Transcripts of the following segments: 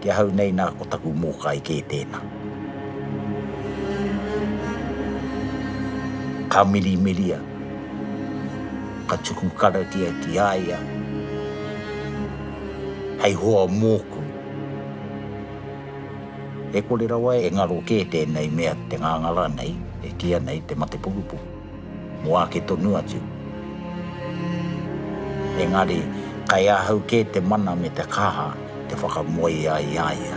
Ki ahau nei na ko taku mōkai kē tēnā. Ka mirimiria, ka tuku karakia ki a ia hei hoa mōku. E kore rawa e ngaro kē tēnei mea te ngāngara nei e kīa nei te mate pukupuku. Mō ake tonu atu. Engari, kei ahau kē te mana me te kaha te whakamoe ai i a ia.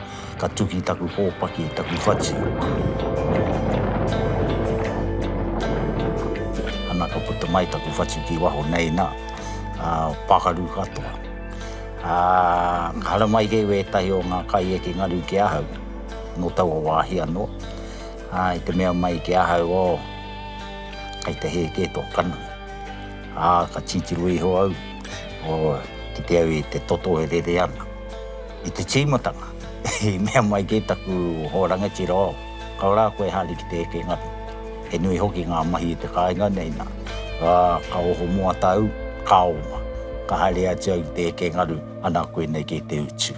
Ka tuki taku hōpaki, taku whati. Ana, ka puta mai taku whati ki waho nei, nā, ā, pākaru katoa. Ā, ka haramai kē wētahi o ngā kai eke ngaru ki ahau, nō taua wāhi anō. Ā, i te mea mai ki ahau, ō, kei te hē kē tō kana. Ā, ka titiro iho au, ō, kite au i te toto e rere ana. I te tīmatanga, i mea mai kē taku hoa rangatira, oh, ka rā koe e haere ki te eke ngaro. He nui hoki ngā mahi i te kāinga nei nā, ā, ka oho moata au, ka oma, ka haere atu au ki te eke ngaru, ana koinei kē te utu.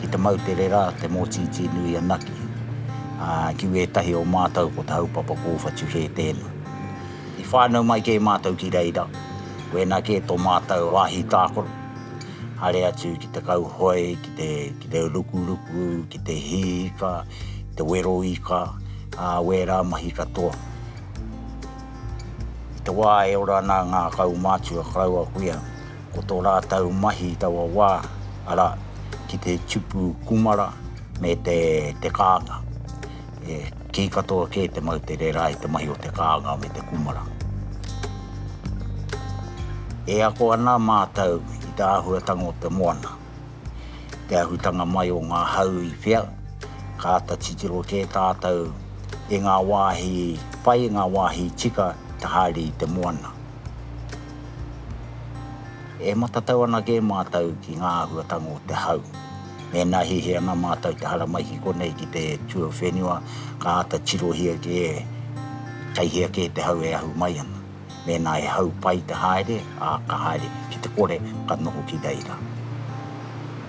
Ki te mau tere rā te mōtītī nui anake, ā, ki wētahi o mātou ko te haupapa kōwhatu hē tēnā. I whānau mai kē mātou ki reira, koinā kē tō mātou wāhi tākaro, haere atu ki te kauhoe, ki te, ki te rukuruku, ki te hī ika, ki te wero ika, ā, wērā mahi katoa. I te wā e ora ana ngā kaumātua karaua kuia, Ko tō rātou mahi i taua wā, arā, ki te tupu kūmara me te kānga. He kī katoa kē te moutere rā i te mahi o te kānga me te kūmara. E ako ana mātou i te āhuatanga o te moana, te ahutanga mai o ngā hau i whea, ka āta titiro kē tātou i ngā wāhi pai, ngā wāhi tika te haere i te moana. E matatau ana kē mātou ki ngā āhuatanga o te hau. Mēnā hihi ana mātou te haramai ki konei ki te tuawhenua, ka āta tirohia kē, kei hea kē te hau e ahu mai ana. Mēnā he hau pai te haere, ā, ka haere ki te kore, ka noho ki reira.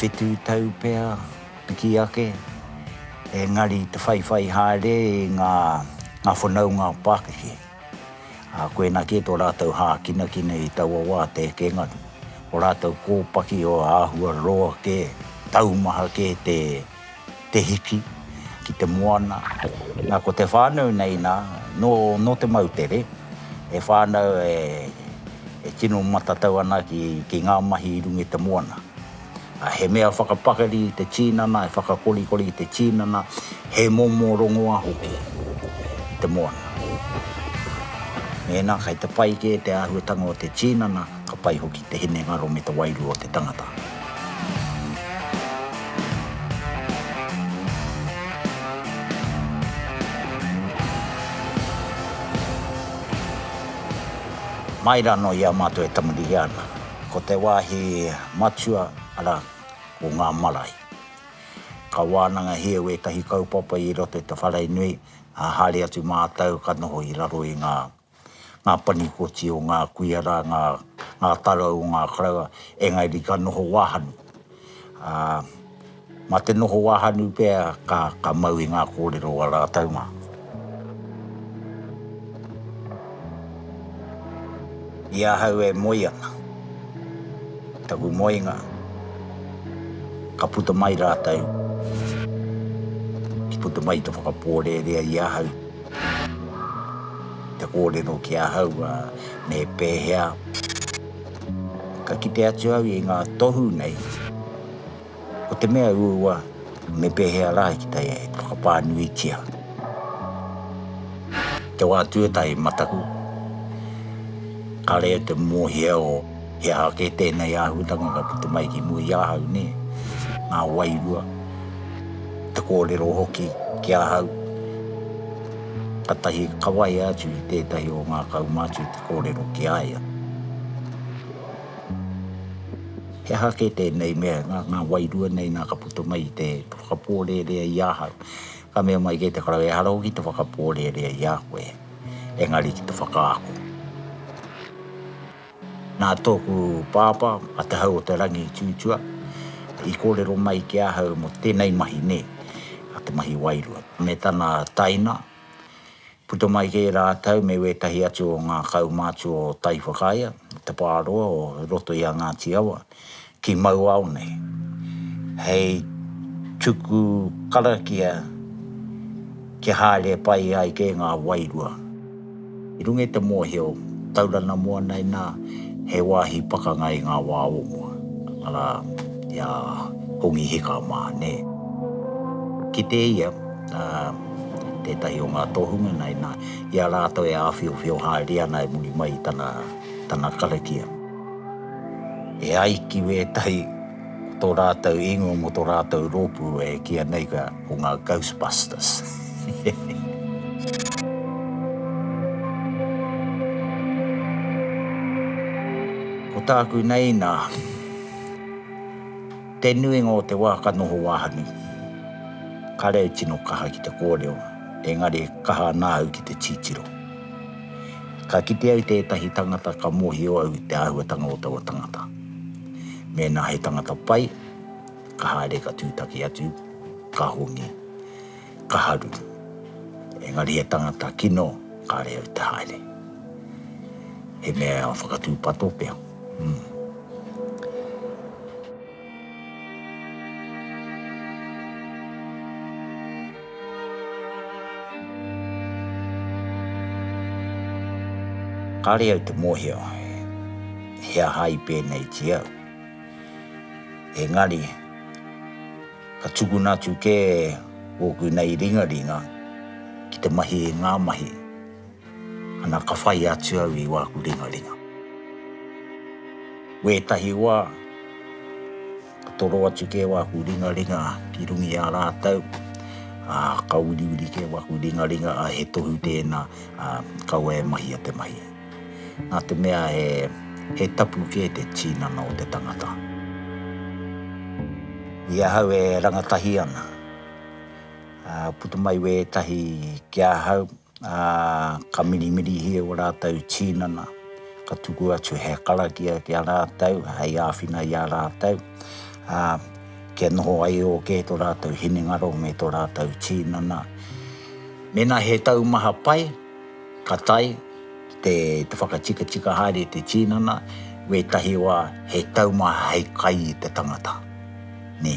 Whitu tau pea piki ake, engari i te whaiwhai haere i ngā whanaunga pākeke. Ā, koinā kē tō rātou hākinakina i taua wā te ekenga, ko rātou kōpaki o āhua roa kē, taumaha kē te. te hiki, ki te moana. Na, ko te whanau nei na, no, no te moutere, he whanau e, e tino matatau ana ki, ki nga mahi i runga i te moana. A, he mea whakapakari i te tinana, he whakakorikori i te tinana, he momo rongoa hoki i te moana. Mēnā kei te pai kē te āhuatanga o te tinana, Ka pai hoki te hinengaro me te wairua o te tangata. Mai rā noa i a mātou e tamarihia ana, ko te wāhi matua, arā, ko ngā marae. Ka wānangahia wētahi kaupapa i roto i te whare nui, ā, haere atu mātou ka noho i raro i ngā. ngā panikoti o ngā kuia rā, ngā, ngā tarau o ngā karaua, engari ka noho wāhanu. Ā, mā te noho wāhanu pea ka, ka mau i ngā kōrero o ā rātou mā. I ahau e moe ana, taku moenga, ka puta mai rātou, ki puta mai te whakapōrērea i ahau. Te kōrero ki ahau me pēhea ka kite atu au i ngā tohu nei, ko te mea uaua me pēhea rā ki te whakapānuitia te wā tuatahi mataku, ka reo te mōhio. He aha kē tēnei āhutanga ka puta mai ki mua i ahau, nē? Ngā wairua, te kōrero hoki ki ahau. Katahi ka waia atu i tētahi o ngā kaumātua te kōrero ki a ia. He aha kē tēnei mea, ngā wairua nei nā ka puta mai i te whakapōrearea i ahau? Ka mea mai kē te karaua, ehara hoki te whakapōrearea i a koe, engari ki te whakaako. Nā tōku pāpā, a Te Hau-o-te-rangi i tūtua, i kōrero mai ki ahau mō tēnei mahi nei, a te mahi wairua. Me tana taina, puta mai kē rātau me wētahi atu o ngā kaumātua o Taiwhakaea, te pāroa o roto i a Ngāti Awa. ki mau ao nei, hei tuku karakia kia haere pai ai kē ngā wairua. I runga i te mōhio, Taurana Moana inā, he wāhi pakanga i ngā wā o mua, arā, i a Hongi Hika mā, nē. Kite ia, ā, tētahi o ngā tohunga nā, inā, i a rātou e āwhiowhio haere ana e muri mai i tana, tana karakia. E ai ki wētahi o tō rātou ingoa mō tō rātou rōpū e kīia nei ka, ko ngā Ghostbusters. Ko tāku nei nā, te nuinga o te wā ka noho wāhanu, ka reo tino kaha ki te kōrero, engari kaha ana au ki te titiro. Ka kite au tētahi tangata ka mōhio au i te āhuatanga o taua tangata. Mēnā he tangata pai, ka haere ka tūtaki atu, ka hongi, ka haru. Engari he tangata kino, kāre au te haere. He mea whakatūpato pea. Kāre au te mōhio he aha i pēnei ki au. Engari, ka tukuna atu kē ōku nei ringaringa ki te mahi i ngā mahi. Ana ka whai atu au i wāku ringaringa. Wētahi wā, ka toro atu kē wāku ringaringa ki runga i a rātou, ā, ka uriuri kē wāku ringaringa, ā, he tohu tēnā, ā, kaua e mahia te mahi. Nā te mea he, he tapu kē te tīnana o te tangata. I ahau e rangatahi ana, ā, puta mai wētahi ki ahau, Ā, ka mirimirihia ō rātou tīnana, ka tuku atu he karakia ki a rātou hei āwhina i a rātou, ā, kia noho ai ō kē tō rātou hinengaro me tō rātou tīnana. Mēnā he taumaha pai, ka tae te whakatikatika haere te tīnana, wētahi wā he taumaha hei kai i te tangata. Nē.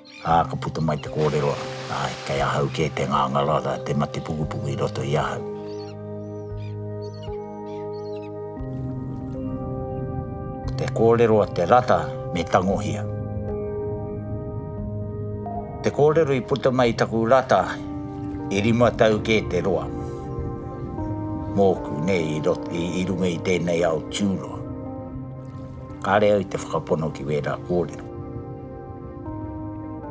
Ā, ka puta mai te kōrero, Āe, kei ahau kē te ngangara, arā, te mate pukupuku i roto i ahau. Ko te kōrero a Te Rata me Tangohia. Te kōrero i puta mai i taku rata e rima tau kē te roa mōku, nei, i rot, i, i runga i tēnei ao tūroa. Kāre au i te whakapono ki wērā kōrero.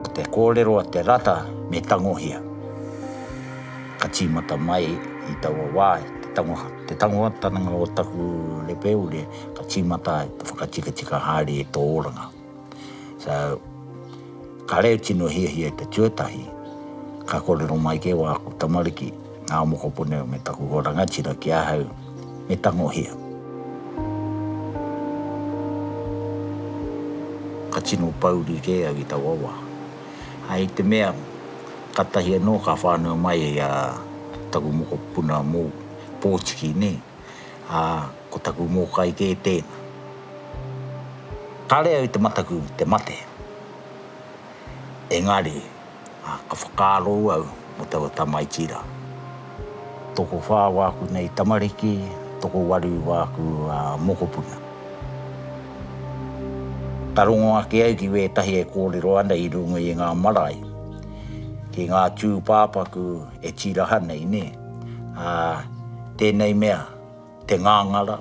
Ko te kōrero a Te Rata me tangohia. Ka tīmata mai i taua wā te tangoha, te tangohatanga o taku repeure ka tīmata ai, ka whakatikatika haere i tō oranga. So, ka reo tino hiahia i te tuatahi, ka kōrero mai kē wāku tamariki, Ngā mokopuna me taku hoa rangatira ki ahau me tangohia. Ka tino pouri kē au i taua wā. Hai te mea, katahi anō ka whānau mai a taku mokopuna mō pōtiki nē, ā, ko taku mōkai kē tēna. Kāre au te mataku te mate, engari ā, ka whakaaro au mō taua tamaiti rā. Tokowhā wāku nei tamariki, tokowaru wāku mokopuna. Ka rongo ake au ki wētahi e kōrero ana i runga i ngā marae, ki ngā tūpāpaku e tīraha nei, nē? Ā, tēnei mea. te ngāngara,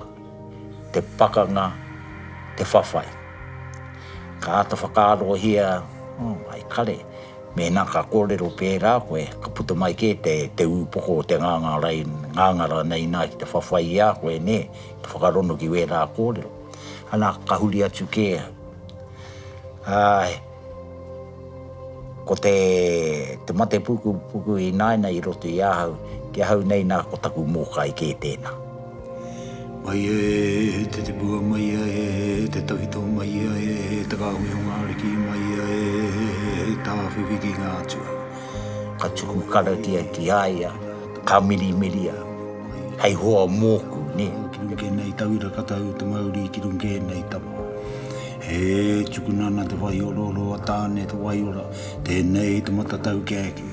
te pakanga, te whawhai. Ka āta whakaarohia, oh, hai kare, mēnā ka kōrero pērā koe, ka puta mai kē te, te ūpoko o te ngāngara, ngāngara nei nā ki te whawhai i a koe, nē, te whakarono ki wērā kōrero. Anā, ka huri atu kē au. Āe. Ko te mate pukupuku i naina i roto i ahau, ki ahau nei na ko taku mokai ke tena. Mai e te tipua mai e te tawhito mai e te kahui o nga riki mai e he tawhiwhi ki nga atua. Ka tuku karakia ki a ia, ka mirimiria, hei hoa moku, ne. Ki runke nei tauira ka tau te mauri ki runke nei tama. He tukuna ana te waiororo a Tāne Te Waiora, tēnei te matatau kia eke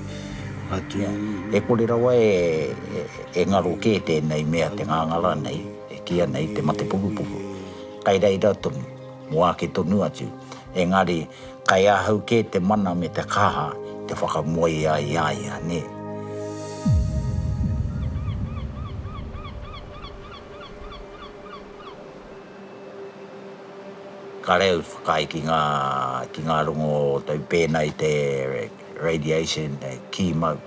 atu. E kore rawa e ngaro kē tēnei mea te ngāngara nei, e kīia nei te mate pukupuku. Kai reira tonu, mō ake tonu atu, engari kai ahau kē te mana me te kaha te whakamoe ai i a ia, nē. Kāre au i whakaae ki ngā, ki ngā rongo o tau pēnā i te radiation, kī mau,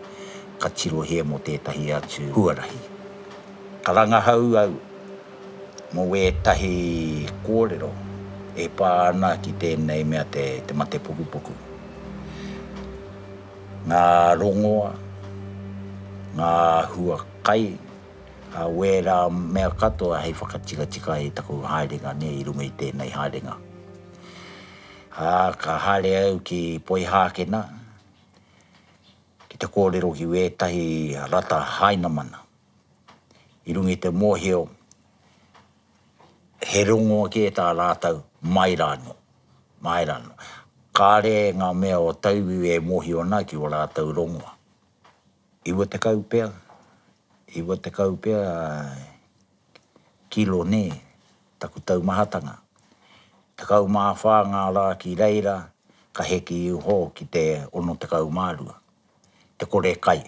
ka tirohia mō tētahi atu huarahi. Ka rangahau au mō ētahi kōrero e pā ana ki tēnei mea te mate pukupuku. Ngā rongoa, ngā hua kai. Ka au ērā mea katoa hei whakatikatika i taku haerenga nei i runga i tēnei haerenga. Ā, ka haere au ki Poihākena ki te kōrero ki wētahi rata Hainamana i runga i te mōhio he rongo kē tā rātou mai rā anō, mai rā anō. Kāre ngā mea o tauiwi e mōhio ana ki ō rātou rongoa. Iwa tekau pea, iwa tekau pea kilo nē, taku taumahatanga. Tekau mā whā ngā rā ki reira ka heke iho ki te ono tekau mā rua, te kore kai.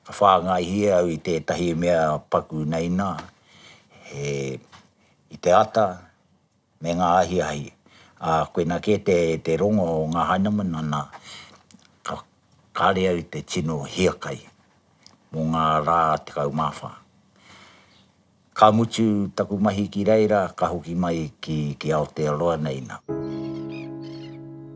Ka whāngaihia au i tētahi mea paku nei nā, he, i te ata, me ngā ahiahi, ā, koina kē te, te rongo o ngā Heineman, ana, ka, kāre au te tino hiakai mō ngā rā tekau mā whā. Ka mutu taku mahi ki reira, ka hoki mai ki, ki Aotearoa nei nā.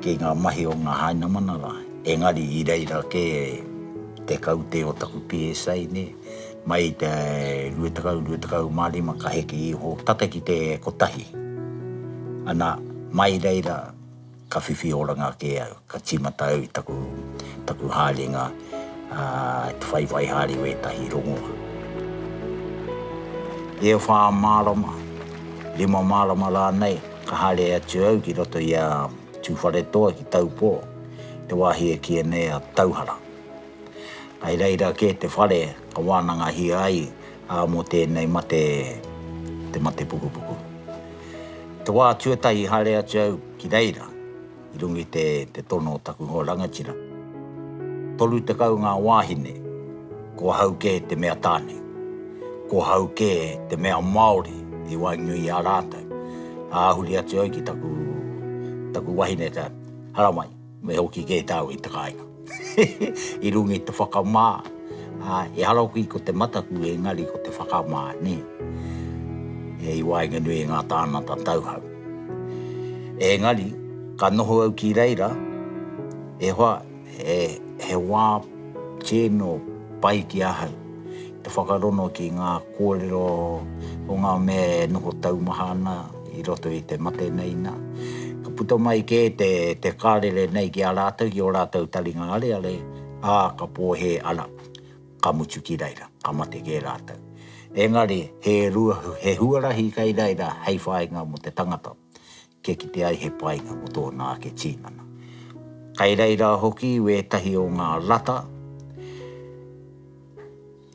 ki ngā mahi o ngā Hainamana rā, engari i reira kē te kaute o taku PSA nei, mai i te 2025 ka heke iho tata ki te kotahi, ana, mai reira ka whiwhi oranga kē au, ka tīmata au i taku, taku haerenga, ā, te whaiwhai haere o ētahi rongoā. E whā marama, rima marama rānei. Ka haere atu au ki roto i a Tūwharetoa ki Taupō, te wāhi e kīia nei a Tauhara. Kai reira kē te whare ka wānangahia ai, ā, mō tēnei mate te mate pukupuku. Te wā tuatahi i haere atu au ki reira, i runga i te tono o taku hoa rangatira. Toru tekau ngā wāhine, ko ahau kē te mea tāne. Ko ahau kē te mea Māori i waenganui i a rātou. Āhuri atu au ki taku wahine, ka haramai, me hoki kē tāu i te kāinga. I runga i te whakamā, ā, ehara hoki ko te mataku engari ko te whakamā, nē. I waenganui i ngā tāngata tauhou. Engari, ka noho au ki reira, e hoa, he wā tino pai ki ahau te whakarongo ki ngā kōrero o ngā mea e noho taumaha ana, I roto i te mate nei nā, ka puta mai kē te, te kārere nei ki a rātou, ki ō rātou taringa areare, ā, ka pōhē ana, ka mutu ki reira, ka mate kē rātou. Engari, he rua, he huarahi kei reira hei whāinga mō te tangata, kia kite ai he painga mō tōna ake tīnana. Kei reira hoki wētahi o ngā rata,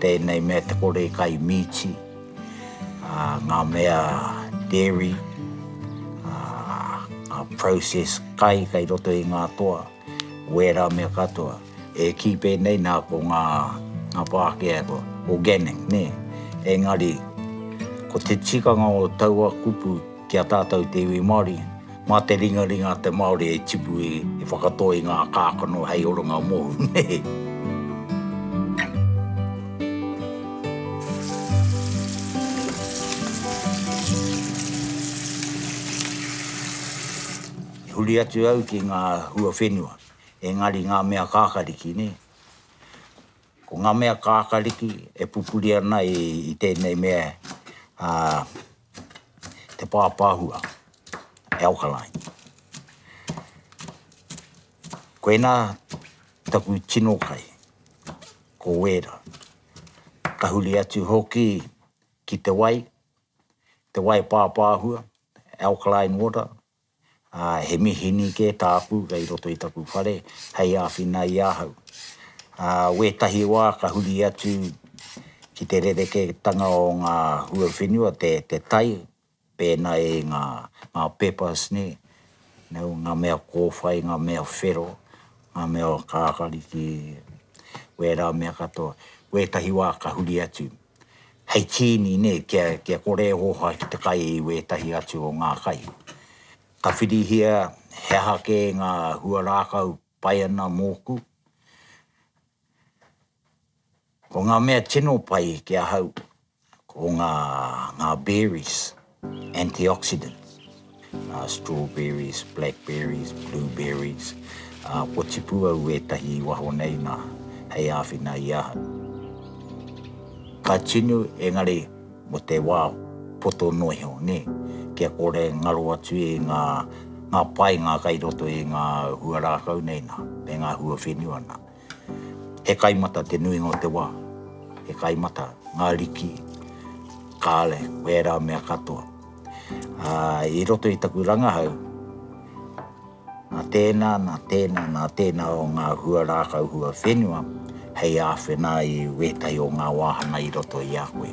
Tēnei mea te kore e kai mīti, ngā mea dairy, ngā process kai kai roto i ngā toa, wēra mea katoa. E kī pēnei nā ko ngā Pākehā ko organic, nē. Engari, ko te tikanga o taua kupu, ki a tātou te iwi Māori, mā te ringaringa a te Māori e tipu i whakatō i ngā kākano hei oranga mōu, nē. I huri atu au ki ngā hua whenua, engari ngā mea kākariki, nē. Ko ngā mea kākariki e pupuri ana i tēnei mea, ā, te pāpāhua, alkaline. Koinā taku tino kai, ko Wēra. Ka huri atu hoki ki te wai, te wai pāpāhua, alkaline water, ā, he mihini kē tāku kei roto i taku whare hei āwhina i ahau. Ā, wētahi wā ka huri atu ki te rerekētanga o ngā huawhenua, te, te tai, pēnā i ngā, ngā peppers nei, nau, ngā mea kōwhai, ngā mea whero, ngā mea kākari ki wērā mea katoa. Wētahi wā ka huri atu. hei tīni nei kia, kia kore e hōhā ki te kai i wētahi atu o ngā kai. Ka whirihia he aha kē ngā huarākau pai ana mōku. Ko ngā mea tino pai ki ahau, ko ngā, ngā berries. Antioxidants, ā, strawberries, blackberries, blueberries, ā, kua tipu au ētahi i waho nei nā, hei āwhina i ahau. Ka tunu, engari mō te wā poto noa iho, nē, kia kore e ngaro atu i ngā, ngā painga kai roto i ngā hua rākau nei nā, me ngā hua whenua nā. He kai mata te nuinga o te wā. He kai mata ngā riki, kāle, ko ērā mea katoa. Ā, i roto i taku rangahau, nā tēnā, nā tēnā, nā tēnā o ngā hua rākau, hua whenua hei āwhina i wētahi o ngā wāhanga i roto i a koe.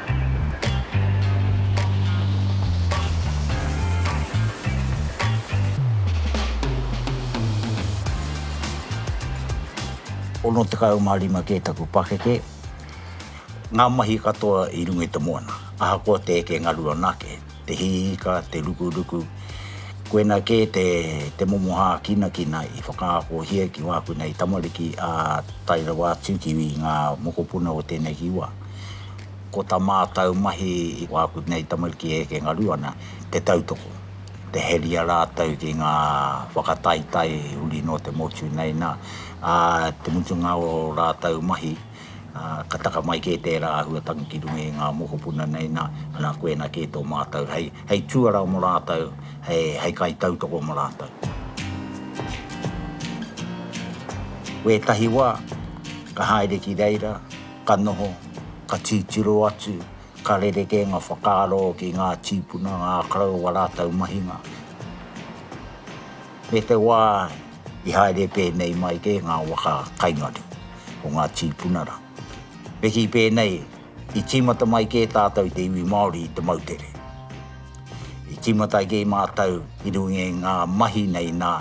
Ono tekau mā rima kē taku pakeke, ngā mahi katoa i runga i te moana, ahakoa te eke ngaru anake, te hiika, te rukuruku, koinā kē te momo hākinakina i whakaakohia ki wāku nei tamariki, ā, tae rawa atu ki ngā mokopuna o tēneki wā. Ko ta mātau mahi i wāku nei tamariki e eke ngaru ana, te tautoko, te heria rātau ki ngā whakataitai huri nō te motu nei nā, ā te mutunga o rātau mahi, ka taka mai kē tērā āhua tangi ki runga i ngā mokopuna nei nā, ana koena kē tō mātau hei, hei tuarā mo rātau, hei, hei kaitautoko mo rātau. Wētahi wā, ka haere ki reira, Ka noho, ka titiro atu, ka rerekē ngā whakaaro ki ngā tīpuna, ngā karaua rātou mahinga. Me te wā i haere pēnei mai kē ngā waka kaingare o ngā tīpuna rā. Me kī pēnei, i tīmata mai kē tātou te iwi Māori i te moutere. I tīmata kē mātou i runga i ngā mahi nei nā,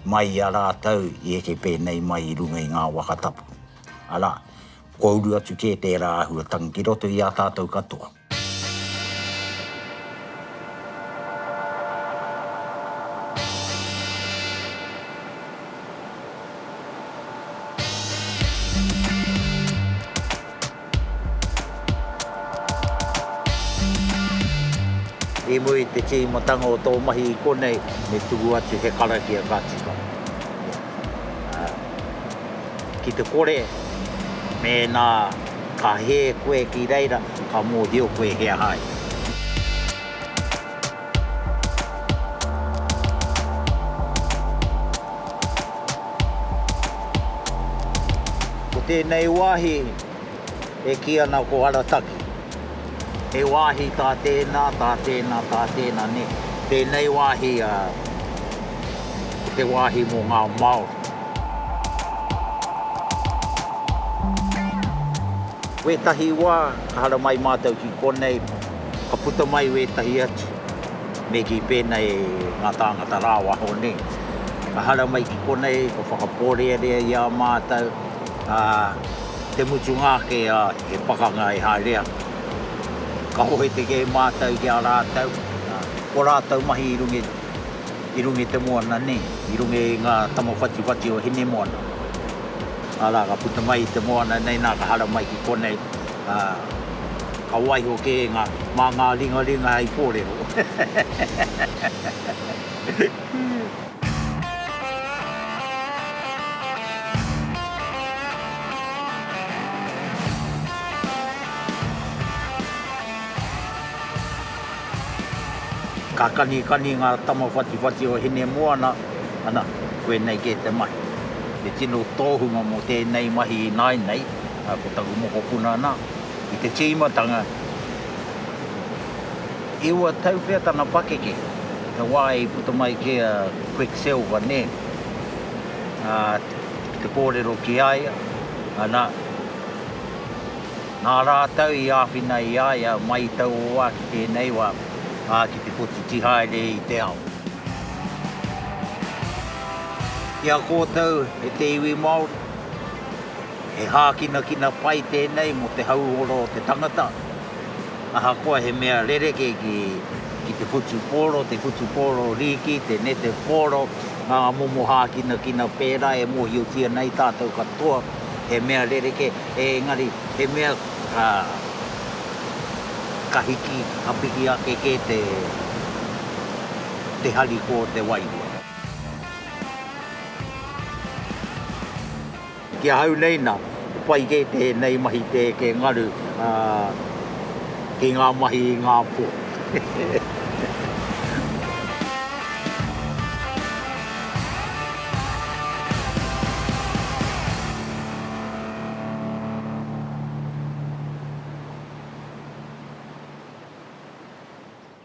mai i a rātou i eke pēnei mai i runga i ngā waka tapu. Arā, kua uru atu kē tērā āhuatanga ki roto i a tātou katoa. I mua i te tīmatanga o tō mahi i konei, me tuku atu he karakia ka tika. Ki te kore, mēnā ka hē koe ki reira, ka mōhio koe he aha ia. Ko tēnei wāhi, e kī ana ko Arataki. He wāhi tā tēnā, tā tēnā, tā tēnā nē. Tēnei wāhi a te wāhi mō ngā Māori. Wētahi wā ka hara mai mātou ki konei, ka puta mai wētahi atu, me kī pēnā e ngā tāngata rāwaho nē. Ka hara mai ki konei, ka whakapōrearea i a mātou, ā, Te mutunga ake a te pakanga e haere ana. Ka hohe te kei mātou ki a rātou, ko rātou mahi i runga i runga i te moana nei, i runga i ngā tama whatiwhati o Hinemoana. Arā, ka puta mai i te moana nei, nā ka hara mai ki konei, ā, ka waiho kē ngā, mā ngā ringaringa hei kōrero. Ka kanikani ngā tama whatiwhati o Hinemoana, ana, koinei kē te mahi. He tino tōhunga mō tēnei mahi ināinei, ko taku mokopuna nā, i te tīmatanga, E ua tau pea tana pakeke, he wā i puta mai kē a Quicksilver nē? Ā, ki te kōrero ki a ia, ana, nā rātou i āwhina i a ia mai i taua wā ki tēnei wā, ā, ki te kotiti haere i te ao. Ki a kōtou e te iwi Māori, he hākinakina pai tēnei mō te hauora o te tangata. Ahakoa he mea rerekē ki te whutupōro, te whutupōro rīki, te nete pōro, ngā momo hākinakina pērā e mōhiotia nei tātou katoa, he mea rerekē, engari he mea ka hiki, ka piki ake kē te harikoa o te wairua. Ki ahau nei na, he pai kē tēnei mahi tē ke ngaru ki ngā mahi i ngā pō.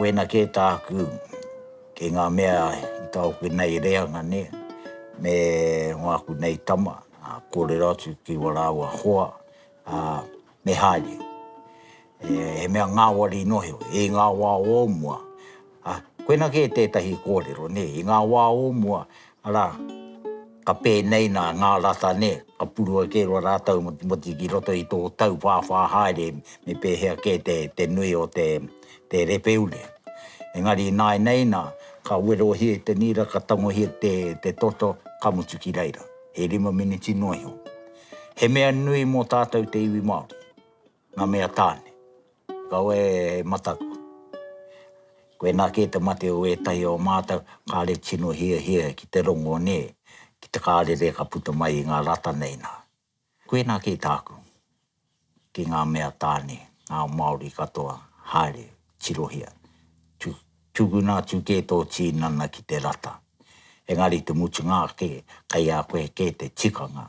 Wena kē tāku ki ngā mea i taoke nei reanga nei, me wāku nei tama, ā, kōrero atu ki wā rāua hoa, ā, me haere. He mea ngāwari noheo, i ngā wā o mua, Ā, koina kē tētahi kōrero, nē, i ngā wā o mua, arā, ka pēnei nā ngā rata, nē, ka purua kē roa rātou motimoti ki roto i tō tauwhāwhā haere me pēhea kē te nui o te repeule. Engari ināinei nā, ka werohia i te nīra, ka tangohia te toto, ka mutu ki reira, he rima miniti noa iho. He mea nui mō tātou te iwi Māori. Nga mea tane. Kaua e mataku. Koina ke te mate o etahi o matou, kare tino hiahia ki te rongo ne, ki te karere ka puta mai i nga rata nei na. Koina ke taku. Ki nga mea tane, nga Maori katoa, haere, tirohia. Tu, tuguna atu ke to tinana ki te rata. Engari te mutunga ake, kai a koe ke te tikanga,